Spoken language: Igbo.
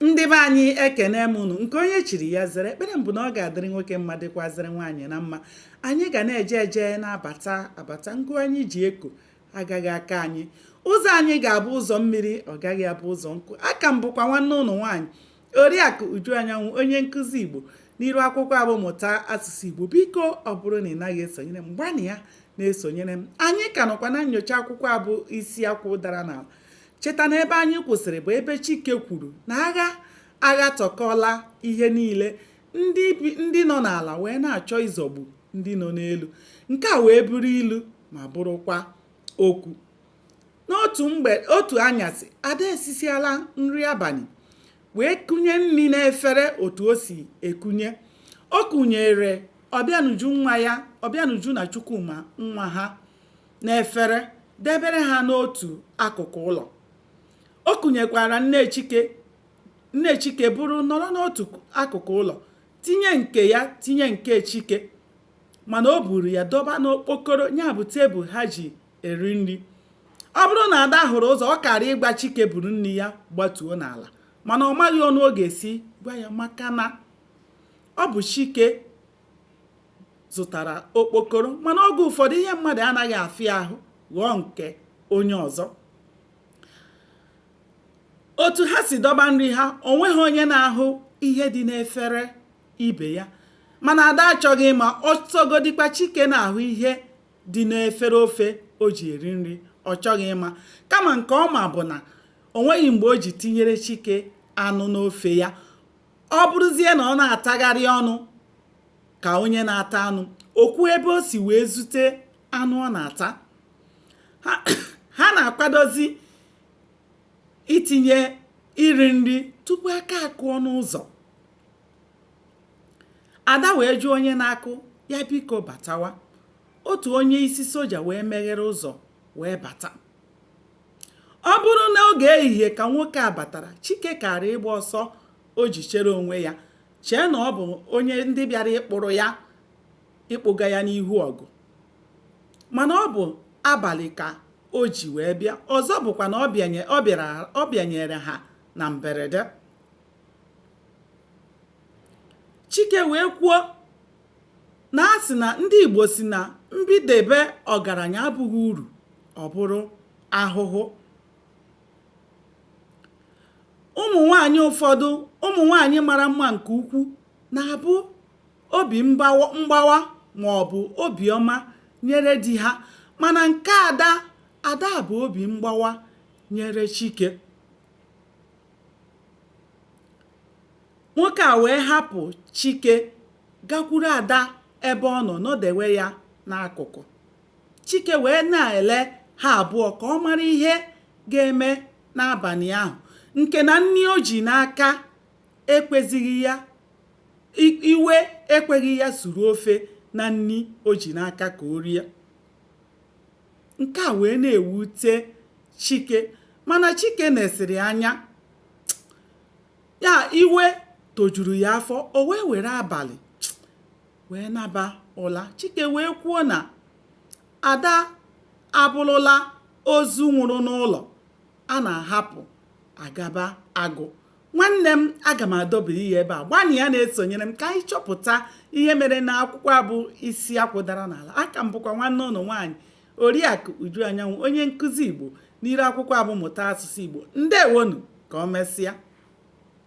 ndị be anyị ekene m unu nke onye chiri ya zere ekpere m bụ na ọ ga-adịrị nwoke mma dịkwazịrị nwaanyị na mma anyị ga na-eje eje na-abata abata ngụ anyị ji eko agaghị aka anyị ụzọ anyị ga-abụ ụzọ mmiri ọ gaghị abụ ụzọ nkụ aka m bụkwa nwanne unu nwaanyị oriakụ uju anyanwụ onye nkụzi igbo n'iru akwụkwọ a bụ mụta asụsụ igbo biko ọ bụrụ na ị naghị esonyere m gbanịa na-esonyere m anyị ka nọkwa na nyocha akwụkwọ a bụ isi akwụ dara n'ala cheta na ebe anyị kwụsịrị bụ ebe Chike kwuru na agha aghatọkọọla ihe niile ndị nọ n'ala wee na-achọ ịzọgbu ndị nọ n'elu nke a wee bụrụ ilu ma bụrụkwa okwu n'otu mgbe otu anyasị ada esisiala nri abalị wee kunye nri n'efere otu o si ekunye o kunyere ọbịanuju nwa ya ọbịanuju na chukwuma nwa ha n'efere debere ha n'otu akụkụ ụlọ. O kunyekwara nne Chike nne Chike buru nọrọ n'otu akụkụ ụlọ tinye nke ya tinye nke Chike mana o buru ya dọba n'okpokoro ya bụ tebụl ha ji eri nri. Ọ bụrụ na Ada hụrụ ụzọ ọ kaara ịgwa Chike buru nri ya gbatuo n'ala mana ọ maghị ọnụ ọ ga-esi gwa ya maka na ọ bụ Chike zụtara okpokoro mana oge ụfọdụ ihe mmadụ anaghị afịa ahụ ghọọ nke onye ọzọ otu ha si dọba nri ha o nweghị onye na-ahụ ihe dị n'efere ibe ya mana ada achọghị ịma ọ sọgodikwa chike na-ahụ ihe dị n'efere ofe o ji eri nri ọ chọghị ịma kama nke ọ ma bụ na o nweghị mgbe o ji tinyere chike anụ n'ofe ya ọ bụrụzie na ọ na-atagharị ọnụ ka onye na-ata anụ o kwuo ebe o si wee zute anụ ọ na-ata ha na-akwadozi itinye iri nri tupu aka akụọ n'ụzọ ada wee jụọ onye na-akụ ya biko batawa otu onye isi soja wee meghere ụzọ wee bata Ọ bụrụ n'oge ehihie ka nwoke a batara, Chike kaara ịgba ọsọ o ji chere onwe ya, chee na ọ bụ onye ndị bịara ịkpụrụ ya ịkpụga ya n'ihu ọgụ. Mana ọ bụ abalị ka o ji wee bịa. Ọzọ bụkwa na ọ bịanyere ha na mberede. Chike wee kwuo na a sị na ndị Igbo sị na mbidebe ọgaranya abụghị uru, ọ bụrụ ahụhụ ụmụ nwanyị ụfọdụ ụmụ nwanyị mara mma nke ukwu na-abụ obi mgbawa ma ọ bụ obiọma nyere di ha mana nke ada ada bụ obi mgbawa nyere chike nwoke a wee hapụ chike gakwuru ada ebe ọ nọ nọdewe ya n'akụkụ Chike wee na-ele ha abụọ ka ọ mara ihe ga-eme n'abalị ahụ nke na nri o ji n'aka ekwezighị ya iwe ekweghị ya suru ofe na nri o ji n'aka ka o rie nke a wee na-ewute Chike mana Chike nesịrị anya ya iwe tojuru ya afọ o wee were abalị wee naba ụla chike wee kwuo na ada abụrụla ozu nwụrụ n'ụlọ a na-ahapụ agaba agụ nwanne m aga m adọbiri ya ebe a gbanịa na-esonyere m ka anyị chọpụta ihe mere n'akwụkwọ a bụ isi akwụ dara n'ala aka m bụkwa nwanne unu nwaanyị oriakụ uju anyanwụ onye nkụzi igbo n'iru akwụkwọ a bụ mụta asụsụ igbo ndewo nụ ka o mesịa